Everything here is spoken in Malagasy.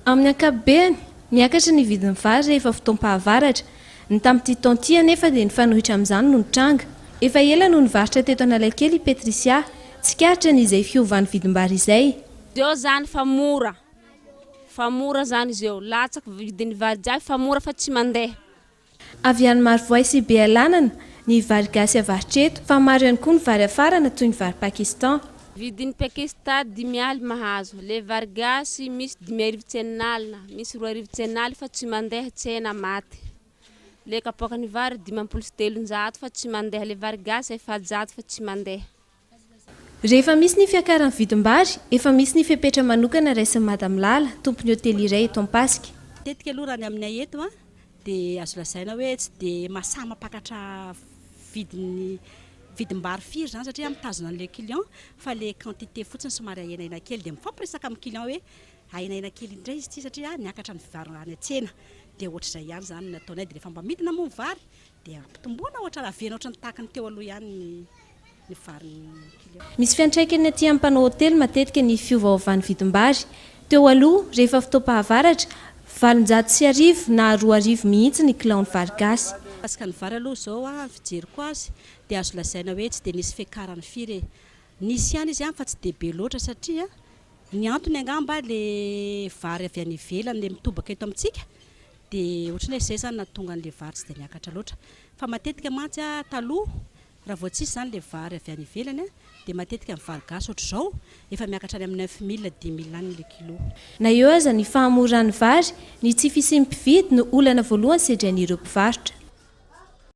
Amin'ny ankapobeny, miakatra ny vidin'ny vary rehefa fotoam-pahavaratra. Ny tamin'ity taona ity anefa dia nifanohitra amin'izany no nitranga. Efa ela no nivarotra teto Analakely i Patricia. Tsikaritra ny izay fiovan'ny vidim-bary izay. Zao izany fa mora, fa mora izany izy eo, latsaka vidin'ny vary jiaby fa mora fa tsy mandeha. Avy any Marovoay sy Bealanana ny vary gasy avarotry eto fa maro ihany koa ny vary afarana toy ny vary Pakistan. Vidin'i Pakista dimy aly mahazo, le vary gasy misy dimy arivo tsenan'alina, misy roa arivo tsen'aly fa tsy mandeha tsena maty. Le kapoakan'ny vary dimampolo sy telonjato fa tsy mandeha, le vary gasy efajato fa tsy mandeha. Rehefa misy ny fiakaran'ny vidim-bary, efa misy ny fepetra manokana raisin'i Madame Lala, tompon'ny hotely iray eto Ampasika. Matetika aloha raha ny aminay eto dia azo lazaina hoe tsy dia mahasahy mampakatra vidin'ny vidim-bary firy izany satria mitazona an'ilay client fa ilay quantité fotsiny somary ahenahenaina kely dia mifampiresaka amin'ny client hoe ahenahenaina kely indray izy ity satria miakatra ny vary any an-tsena dia ohatr'izay ihany izany no ataonay dia rehefa mba midina moa ny vary dia ampitomboana ohatra raha avela ohatran'ny tahaka ny teo aloha ihany ny ny varin'ny kilo. Misy fiantraikany aty amin'ny mpanao hotely matetika ny fiovaovan'ny vidim-bary. Teo aloha, rehefa fotoam-pahavaratra, valonjato sy arivo na roa arivo mihitsy ny kilaon'ny vary gasy. Mikasika ny vary aloha izao ny fijeriko azy dia azo lazaina hoe tsy dia nisy fiakarany firy e! Nisy ihany izy ihany fa tsy dia be loatra satria ny antony angamba ilay vary avy any ivelany ilay mitobaka eto amintsika dia ohatran'ny hoe izay izany nahatonga an'ilay vary tsy dia niakatra loatra. Fa matetika mantsy taloha, raha vao tsisy izany ilay vary avy any ivelany, dia matetika ny vary gasy ohatr'izao efa miakatra any amin'ny neuf mille, dix mille any ilay kilo. Na eo aza ny fahamoran'ny vary, ny tsy fisian'ny mpividy no olana voalohany sedrain'ireo mpivarotra.